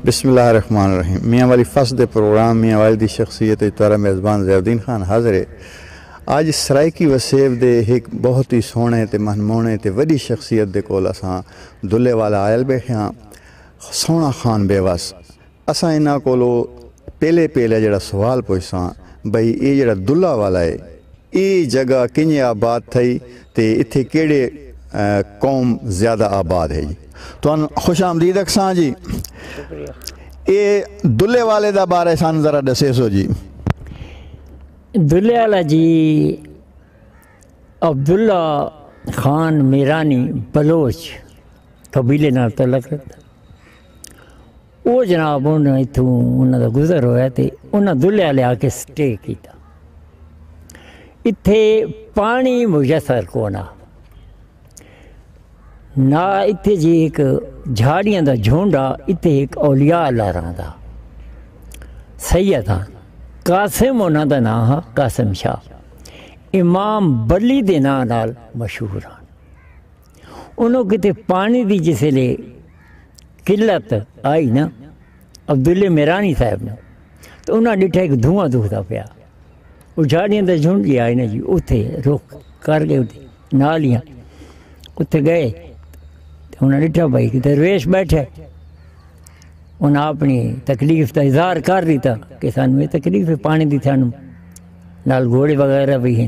بسم اللہ الرحمن الرحیم میاں والی فص دے پروگرام میاں والی دی شخصیت اچ تہاڈا میزبان ضیاءالدین خان حاضر ہے۔ اج سرائیکی وسیب دے ہک بہت ای سوہݨے تے مہنموہݨے تے وݙی شخصیت دے کول اساں دلھے والا آئل بیٹھے ہاں سوہݨا خان بے وس اساں انہاں کولو پہلے پہلے جیڑھا سوال پچھساں بھئی اے جیڑھا دلھا والا ہے اے جگہ کنجھے آباد تھئی تے اتھے کیڑھے قوم زیادہ آباد ہئی۔ تہن خوش آمدید اکھساں جی۔ اے دلے والے دا بارے سان ذرا ڈسیسو جی۔ دلے والا جی عبداللہ خان میرانی بلوچ قبیلے نال تعلق رکھدا۔ او جناب انہاں اتھوں انہاں دا گزر ہویا تے انہاں دلیا لیا کے سٹے کیتا۔ اتھے پانی میسر کونا۔ نا اتھے جی ایک جھاڑیاں دا جھونڈا اتھے ایک اولیاء اللہ رہاں دا۔ سید ہاں۔ قاسم انہاں دا نام ہاں قاسم شاہ۔ امام بلی دے نام نال مشہور ہاں۔ انہوں کتے پانی دی جسے لے قلت آئی نا عبداللہ میرانی صاحب نے تو انہوں نے ڈٹھا ایک دھواں دکھ دا پیا وہ جھاڑیاں دا جھنڈ جی آئی نا جی اتھے روک کر گئے اتھے نالیاں اتھے گئے انہوں نے ڈٹھا بھائی کہ درویش بیٹھے انہوں اپنی تکلیف دا اظہار کر دیتا کہ سانوے تکلیف پانی دی تھانوں نال گھوڑے وغیرہ بھی ہیں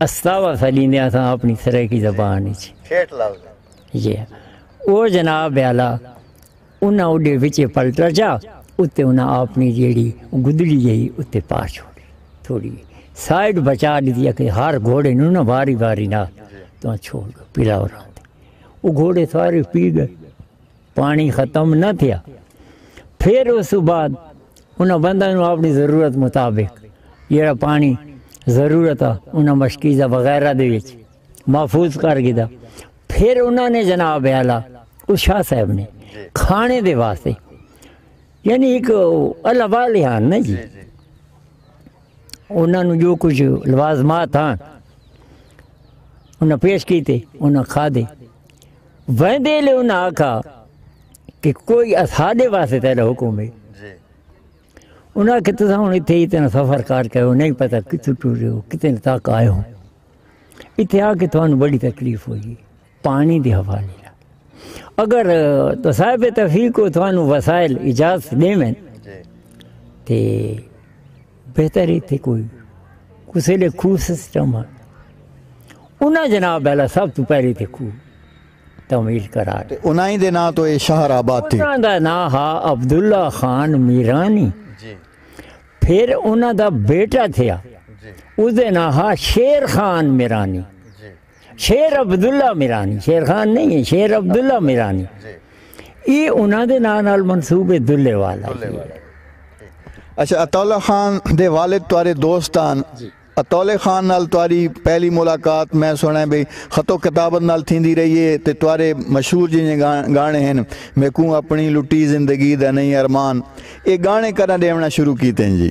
استاوا سا لیندے آسا اپنی سرائیکی زبان اچ ٹھیٹ لفظ جی او جناب بیالا انہاں اوڈے وچے پلٹر جا اتے انہاں اپنی جیڑی گدڑی جئی اتے پا چھوڑی تھوڑی سائیڈ بچا دیتی کہ ہر گھوڑے نو نہ باری باری نہ تو چھوڑ گئے پلاو راندے او گھوڑے سارے پی گئے پاݨی ختم نہ تھیا۔ پھر اس توں بعد انہاں بندیاں نوں اپݨی ضرورت مطابق جیڑھا پاݨی ضرورت ہا انہاں مشکیزہ وغیرہ دے وچ محفوظ کر گھدا۔ پھر انہاں نے جناب اعلی اس شاہ صاحب نے کھانے دے واسطے یعنی ہک اللہ والے ہن نا جی انہاں نوں جو کچھ لوازمات ہن انہاں پیش کیتے انہاں کھادے۔ ویندے لے انہاں آکھا کہ کوئی اساڈے واسطے تیرا حکم ہے جی۔ انہاں کہ تساں ہن ایتھے اتنا سفر کر کے ہو نہیں پتہ کتھوں ٹرے ہو کتنے تک آئے ہو ایتھے آ کے تھانوں بڑی تکلیف ہوئی پانی دے حوالے اگر تو صاحب تفیق کو تھانوں وسائل اجازت دیویں جی۔ تے بہتر ہی تھی کوئی کسی لے کھو سسٹم ہے انہاں جناب بیلا سب تو پہلی تھی کھو تمیل کرا دے انہاں ہی دے نا تو اے شہر آباد تھی انہاں دا نا ہا عبداللہ خان میرانی جی۔ پھر انہاں دا بیٹا تھیا جی۔ اس دے نا ہا شیر خان میرانی جی۔ شیر عبداللہ میرانی شیر خان نہیں ہے شیر عبداللہ میرانی یہ انہوں نے نام نال منصوب دلے والا اچھا اطول خان دے والد تارے دوستان جی۔ اطول خان نال تاری پہلی ملاقات میں سنیں بھئی خطو کتابت نال تھیں دی رہی ہے تے تارے مشہور جنہیں گانے ہیں میں کوں اپنی لٹی زندگی دا نہیں ارمان اے گانے کرنا دیونا شروع کیتے ہیں جی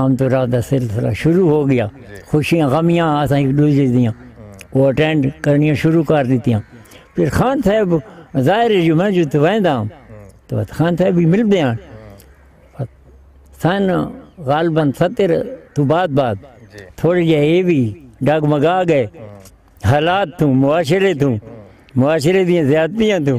آمد و رفت دا سلسلہ شروع ہو گیا۔ خوشیاں غمیاں اساں ہک ڈوجھے دیاں او اٹینڈ کرنیاں شروع کر ڈتیاں۔ پھر خان صاحب ظاہر ہے جو میں جتھے ویندا ہاں تاں بس خان صاحب وی ملدے ہن۔ سن غالبا ستر توں بعد بعد تھوڑے جے اے وی ڈگمگا گئے حالات توں معاشرے توں معاشرے دیاں زیادتیاں توں۔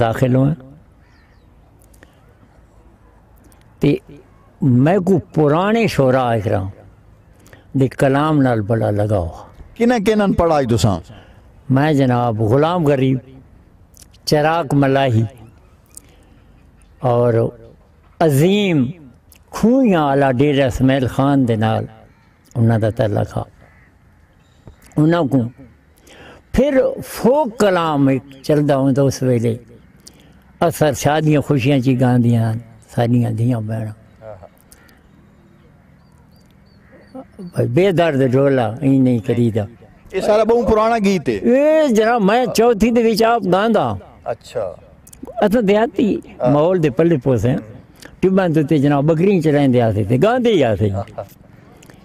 داخل ہوا تے میں کو پرانے شورا آئے کرا دے کلام نال بڑا لگا ہوا کنہ کنہ پڑھا ہی تساں میں جناب غلام غریب چراک ملاہی اور عظیم کھوئیاں علا ڈیرہ سمیل خان دے نال انہاں دا تعلق ہا انہاں کوں پھر فوک کلام ایک چلدا ہوندا اس ویلے اثر شادیاں خوشیاں چی گاندیاں ہیں ساڈیاں دھیاں بہن بے درد ڈھولا ای نہیں کریدا یہ سارا بہت پرانا گیت ہے اے جرا میں چوتھی دے وچ آپ گاندا اچھا اساں دیاتی ماحول دے پلے پوسے ٹباں تے جناب بکری چ رہندے آسے تے گاندے ہی آسے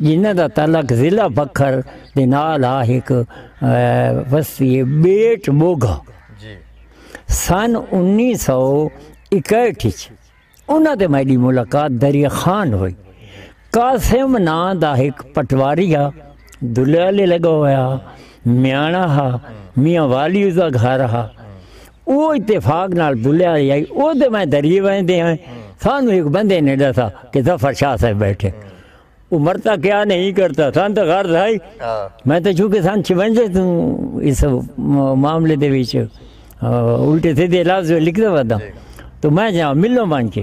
جنہاں دا تعلق ضلع بکھر دے نال ہا ہک وستی ہے بیٹ بوگھا جی۔ سن انیس سو اکہٹھ اچ انہاں تے میڈی ملاقات دریا خان ہوئی قاسم ناں دا ہک پٹواری ہا دلہے آلے لگا ہویا میاݨا ہا میاں والی اس دا گھر ہا او اتفاق نال بھلیا ہئی اے اودے میں دری ویندے ہیں سانوں ہک بندے نے ڈسا کہ ظفر شاہ صاحب بیٹھے او مرتا کیا نہیں کرتا سان تو غرض ہائی میں تو چونکہ سان چونجے تو اس معاملے دے وچ الٹے سیدھے لفظ لکھ دے ودا تو میں جا ملوں بن کے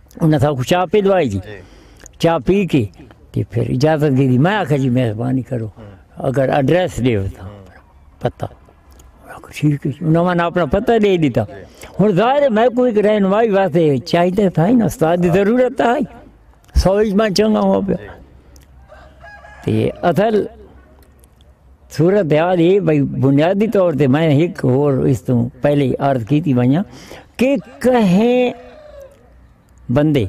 انہاں تھا کو چاہ پی دوائی جی چاہ پی کے تے پھر اجازت دی دی میں آکھا جی مہربانی کرو اگر ایڈریس دے ہوتا پتہ ٹھیک ہے انہاں میں اپنا پتہ دے دیتا ہن ظاہر ہے میں کوئی کرے نوائی واسطے چاہیے تھا ہی نا استاد دی ضرورت تھا ہی سوئی میں چنگا ہوا پیا تے اصل صورتحال اے بھئی بنیادی طور تے میں ہک ہور اس توں پہلے عرض کیتی ونجاں کہ کہیں بندے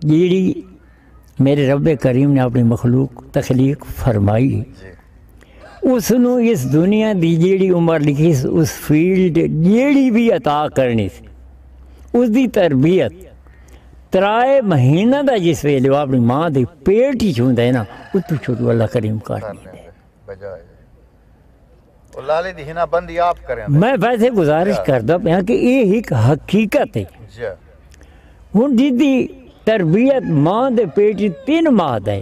جیڑی میرے رب کریم نے اپنی مخلوق تخلیق فرمائی اس نو اس دنیا دی جیڑی عمر لکھی اس فیلڈ جیڑی بھی عطا کرنی اس دی تربیت ترائے مہینہ دا جس ویلے وہ اپنی ماں دے پیٹ ہی چھوندہ ہے نا اتو چھوٹو اللہ کریم کر لیندے میں ویسے گزارش کردہ پہاں کہ یہ ایک حقیقت ہے ہن جی دی تربیت ماں دے پیٹ ہی تین ماں دے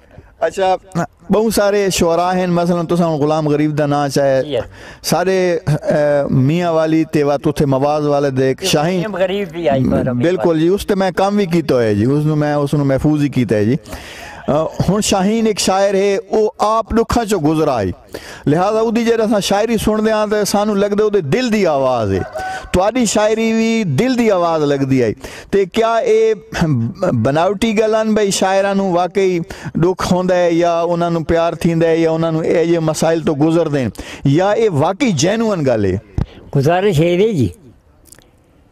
اچھا بہوں سارے شعراء ہیں مثلا تساں ہن غلام غریب دا ناں چاہے یس سارے اہ، میاں والی تے وات اتھے مواز والے دے ایک شاہین غلام غریب بھی آئی پر امیر بالکل جی اس تے میں کام بھی کیتا ہویا جی اس نو میں اس نو محفوظ ہی کیتا ہے جی اہ، ہن شاہین ایک شاعر ہے او آپ ڈکھاں چو گزرا ہے لہذا اودی جیڑے اساں شاعری سنڑدے ہاں تے سانو لگدے اودے دل دی آواز ہے تواڈی شاعری وی دل دی آواز لگدی ہے تے کیا اے بناوٹی گلن بھئی شاعراں نو واقعی دکھ ہوندا ہے یا انہاں نو پیار تھیندا ہے یا انہاں نو اے جے مسائل تو گزردے ہیں یا اے واقعی جینوئن گل ہے گزارش ہے جی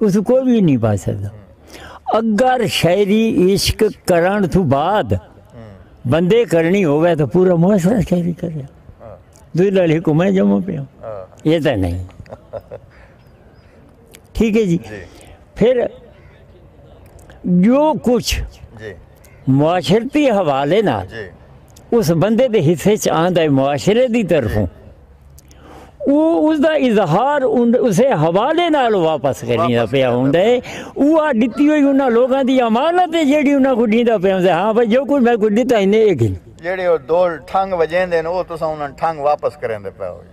اتھوں کوئی بھی نہیں پا سکتا اگر شاعری عشق کرن تو بعد بندے کرنی ہوئے تو پورا محسرہ شاعری کرے دوئی لڑی کو میں جمع پہ ہوں یہ تو نہیں ٹھیک ہے جی پھر جو کچھ جی۔ معاشرتی حوالے نا جی۔ اس بندے دے حصے چاہن دے معاشرے دی طرفوں جی۔ او اس دا اظہار اسے حوالے نال واپس کرنی دا پیا ہوندا ہے او آ ڈتی ہوئی انہاں لوگاں دی امانت ہے جیڑی انہاں کو ڈیندا پیا ہوندا ہے ہاں بھائی جو کوئی میں کو ڈتا ہی نہیں گھن جیڑے او دو ٹھنگ وجین دے او تساں انہاں ٹھنگ واپس کرین دے پیا ہوئی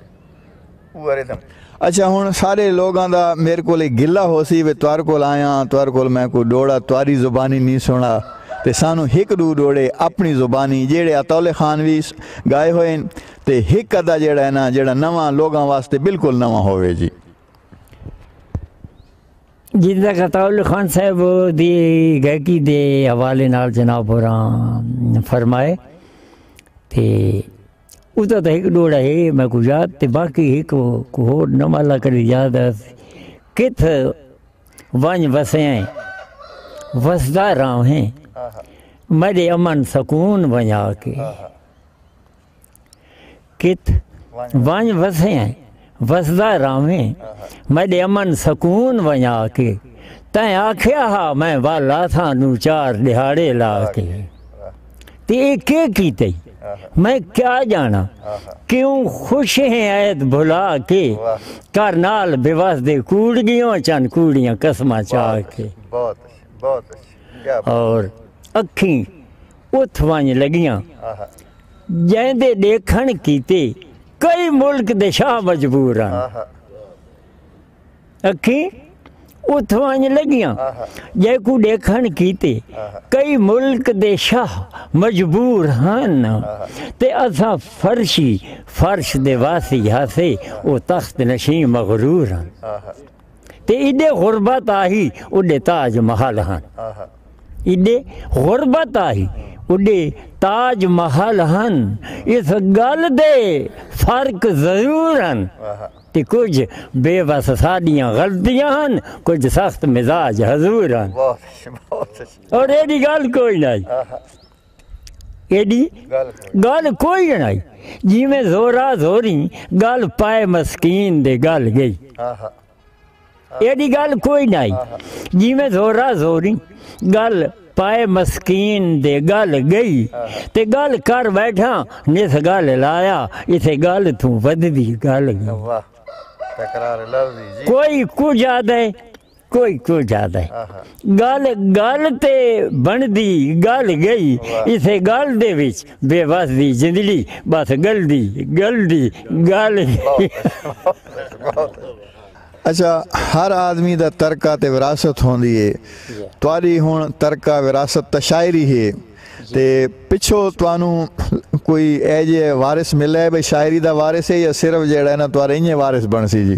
او ارے تم اچھا ہن سارے لوگاں دا میرے کولے گلہ ہو سی وے توار کول آیا ہاں، توار کول میں کو ڈوڑا تواری زبانی نہیں سنا تے سانو ہک ڈو ڈوڑے اپنی زبانی جیڑے اتولے خان وی گائے ہوئے تے ہک ادا جیڑھا ہے نا جیڑھا نواں لوگاں واسطے بالکل نواں ہووے جی جن کا قطاول خان صاحب دی گائکی دے حوالے نال جناب اور فرمائے تے اتا تا ایک ڈوڑا ہے میں کو یاد تے باقی ایک کو ہو نما اللہ کری یاد ہے کت وانج وسے ہیں وسدہ راؤں ہیں میرے امن سکون ونیا کے کت ونج وسیں وسدا راویں میڈے امن سکون ونجا کے تیں آکھیا ہا میں والا تھا نو چار دیہاڑے لا کے تے کے کیتے میں کیا جانا کیوں خوش ہیں ایت بھلا کے کر نال بے وس دے کوڑ گیوں چن کوڑیاں قسمہ چاہ کے اور اکھیں اتھ ونج لگیاں جیں دے ڈیکھن کیتے کئی ملک دے شاہ مجبور ہن اکھیں اتھ ونج لگیاں جیں کوں ڈیکھن کیتے کئی ملک دے شاہ مجبور ہن تے اساں فرشی فرش دے واسی ہاسے او تخت نشیں مغرور ہن تے ایڈے غربت آہی اڈے تاج محل ہن ایڈے غربت آہی اڈے تاج محل ہن اس گل دے فرق ضرور ہن تے کچھ بے وس ساڈیاں غلطیاں ہن کچھ سخت مزاج حضور ہن اور ایڈی گل کوئی نہ ایڈی گال کوئی جنائی جی میں زورا زوری گال پائے مسکین دے گال گئی ایڈی گال کوئی نائی جی میں زورا زوری گال پائے مسکین دے گال گئی تے گال کر بیٹھا نس گال لایا اسے گال توں ودھ دی گال گئی کوئی کجا دے کوئی کوئی جاد ہے گال گال تے بن دی گال گئی اسے گال دے وچ بے وس دی جندڑی بس گل دی گل دی گال اچھا ہر آدمی دا ترکہ تے وراثت ہوندی ہے تواڈی ہن ترکہ وراثت تا شاعری ہے تے پچھو توانو کوئی اے جے وارث ملے بھئی شاعری دا وارث ہے یا صرف جیڑا ہے نا تواڈے انجے وارث بن سی جی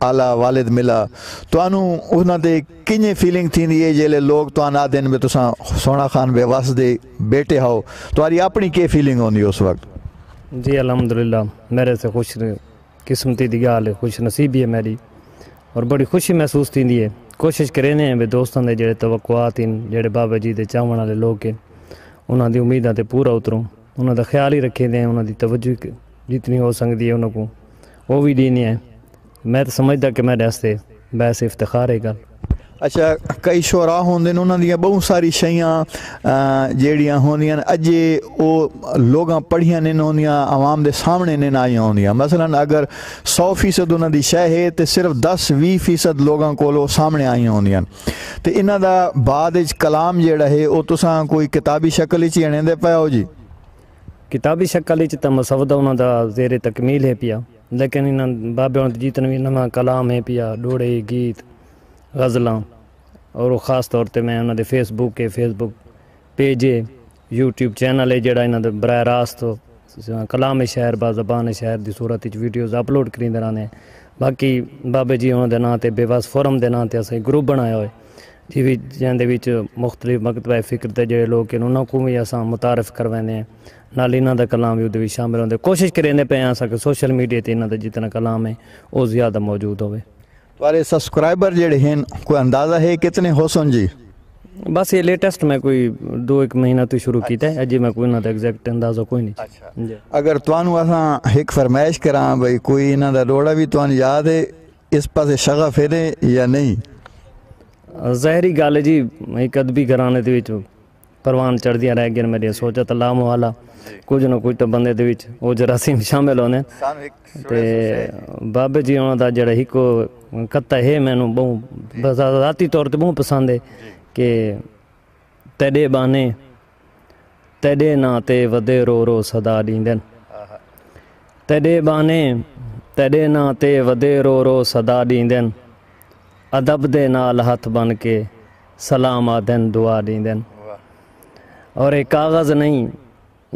آلا والد ملا تہانوں انہاں دے کنجیں فیلنگ تھیندی ہے جیلے لوگ تہان آدھن بے تساں سونا خان بے وس دے بیٹے ہاؤ تہاری اپنی کے فیلنگ ہوندی اس وقت جی الحمدللہ میرے سے خوش قسمتی دی گال ہے خوش نصیبی ہے میری اور بڑی خوشی محسوس تھیندی ہے کوشش کرینے ہیں بے دوستان دے جڑے توقعات ہیں جڑے بابا جی دے چاہون والے لوگ ہیں انہاں دی امیداں تے پورا اتروں انہاں دا خیال ہی رکھیں دے ہیں انہاں دی توجہ جتنی ہو سکتی ہے انہاں کو او وی ڈینی ہے میں تاں سمجھدا کہ میڈے واسطے باعث افتخار ہے گل۔ اچھا کئی شعراء ہوندے ہن انہاں دیاں بہوں ساری شیاں جیڑیاں ہوندیاں اجے او لوگاں پڑھیاں نین ہوندیاں عوام دے سامنے نین آئیاں ہوندیاں مثلا اگر سو فیصد انہاں دی شے ہے تے صرف دس وی فیصد لوگاں کول او سامنے آئیاں ہوندیاں تے انہاں دا بعد اچ کلام جیڑا ہے او تساں کوئی کتابی شکل اچ ہی اݨیندے پئے ہو جی۔ کتابی شکل اچ تاں مسودہ انہاں دا زیر تکمیل ہے پیا لیکن انہاں بابے ہوݨ تے جیتن وی نواں کلام ہے پیا، ݙوڑھے، گیت، غزلاں اور خاص طور تے میں انہاں دے فیس بک ہے، فیس بک پیج ہے، یوٹیوب چینل ہے جیڑھا انہاں دا براہ راست کلام شاعر با زبان شاعر دی صورت اچ ویڈیوز اپلوڈ کریندے رہندے ہیں۔ باقی بابے جی ہوݨ دے ناں تے بے وس فورم دے ناں تے اساں گروپ بݨایا ہوئے۔ تھی وی جیندے وچ مختلف مکتبہ فکر تے جیڑھے لوگ ہن انہاں کوں وی اساں متعارف کرویندے ہیں نال انہاں دا کلام وی اودے وچ شامل ہوندے کوشش کریندے پئے ہیں اساں کہ سوشل میڈیا تے انہاں دا جتنا کلام ہے او زیادہ موجود ہووے۔ تہاڈے سبسکرائبر جیڑھے ہن کوئی اندازہ ہے کتنے ہوسن جی؟ بس ایہ لیٹسٹ میں کوئی دو ہک مہینہ توں شروع کیتا ہے اجے میں کوئی انہاں دا ایگزیکٹ اندازہ کوئی نی جی۔ اگر تہانوں اساں ہک فرمائش کراں بھئی کوئی انہاں دا ڈوہڑا وی تہانوں یاد ہے اس پاسے شغف ہے نے یا نہیں؟ ظاہری گالھ ہے جی ہک ادبی گھرانے دے وچ پروان چڑھدیاں رہ گیاں میڈیاں سوچاں تاں لا محالہ کچھ نہ کچھ تاں بندے دے وچ او جراثیم شامل ہوندے تے بابے جی ہونا دا جڑا ہک کتا ہے مینوں بہوں ذاتی طور تے بہوں پسند ہے کہ تیڈے بانے تیݙے ناں تے ودے رو رو صدا ݙیندن تیݙے ٻانھے تیݙے ناں تے ودے رو رو صدا ݙیندن ادب دے نال ہتھ بن کے سلام آدھن دعا ݙیندن اور اے کاغذ نہیں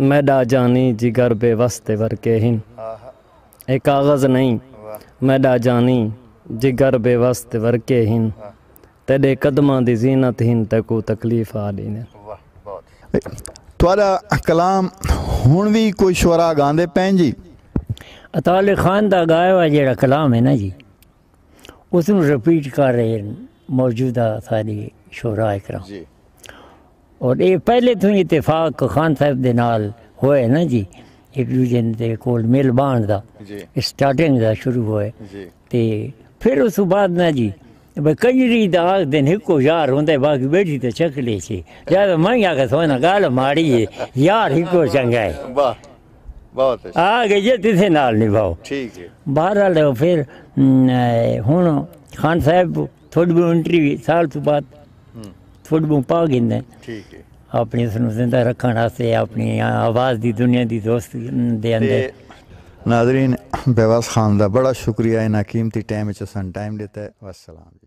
میݙا جانی جگر بے وس تے ورکے ہن اے کاغذ نہیں میݙا جانی جگر بے وس تے ورکے ہن تیڈے قدماں دی زینت ہن تیکوں تکلیف آ ڈیندن۔ واہ بہت شاندار تہاڈا کلام ہن وی کوئی شعراء گاندے پئن جی؟ عطاء علی خان دا گایا ہوا جیڑا کلام ہے نا جی اس نو ریپیٹ کر رہے ہن موجودہ ساڈے شعراء کرام جی۔ اور اے پہلے توں ہی اتفاق خان صاحب دے نال ہوئے نا جی ہک دوجے دے کول مل بانڑ دا جی۔ سٹارٹنگ دا شروع ہوئے جی۔ تے پھر اس توں بعد نہ جی بھئی کنجری دا آکھدن ہکو یار ہوندا ہے باقی بیٹھی تے چھکڑے چے لہذا میں وی آکھاں سوہنا گالھ ماڑی ہے یار ہکو چنگا ہے واہ بہت اچھا آ گئی ہے تسیں نال نبھاؤ ٹھیک ہے بہرحال پھر ہن خان صاحب تھوڑ بہوں انٹری وی سال تو بعد تھوڑ بہوں پا گھندے ٹھیک ہے اپنی اس نو زندہ رکھن واسطے اپنی آواز دی دنیا دی دوست دے اندے ناظرین بیواس خان دا بڑا شکریہ انہاں قیمتی ٹائم وچ اساں ٹائم ڈیتا ہے والسلام جی